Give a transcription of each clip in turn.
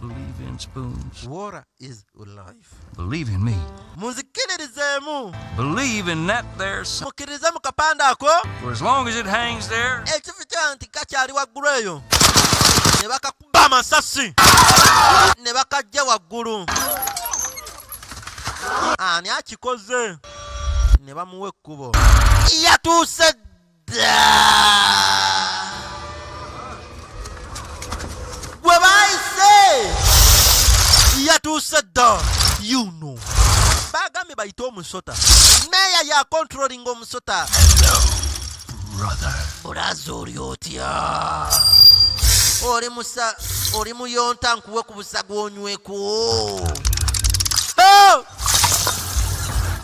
Believe in spoons. Water is life. Believe in me. munzikiririzemu Believe in that there sun. mukkirize mu kapande ako For as long as it hangs there, ekifi kya nti kakyali waggulu eyo ne bakakuba amasasi ne bakajja waggulu ani akikoze ne bamuwa ekkubo yatuuse yatuuse dda yuno bagambye bayite omusota meeya ya controlling omusota bulaza oli otya oli musa oli muyonta nkuwe ku busaga onyweko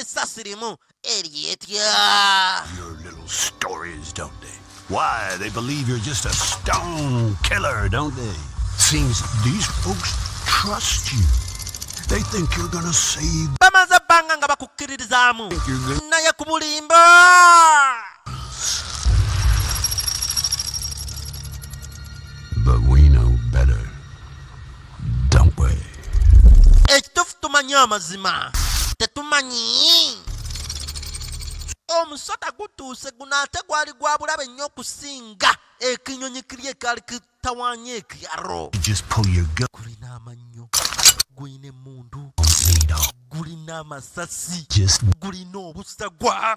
essasi limu eryetya Your little stories, don't they? Why, they believe you're just a stone killer, don't they? Seems these folks trust you. They think you're gonna save. bamaze ebbanga nga bakukkiririzaamu naye ku bulimba ekitufu tumanyi amazima tetumanyi omusota gutuuse guno ate gwali gwa bulabe nnyo okusinga ekinyonyi kiri ekali kitawanya ekyaro gulina amannyo gulina emundu gulina amasasi gulina obusagwa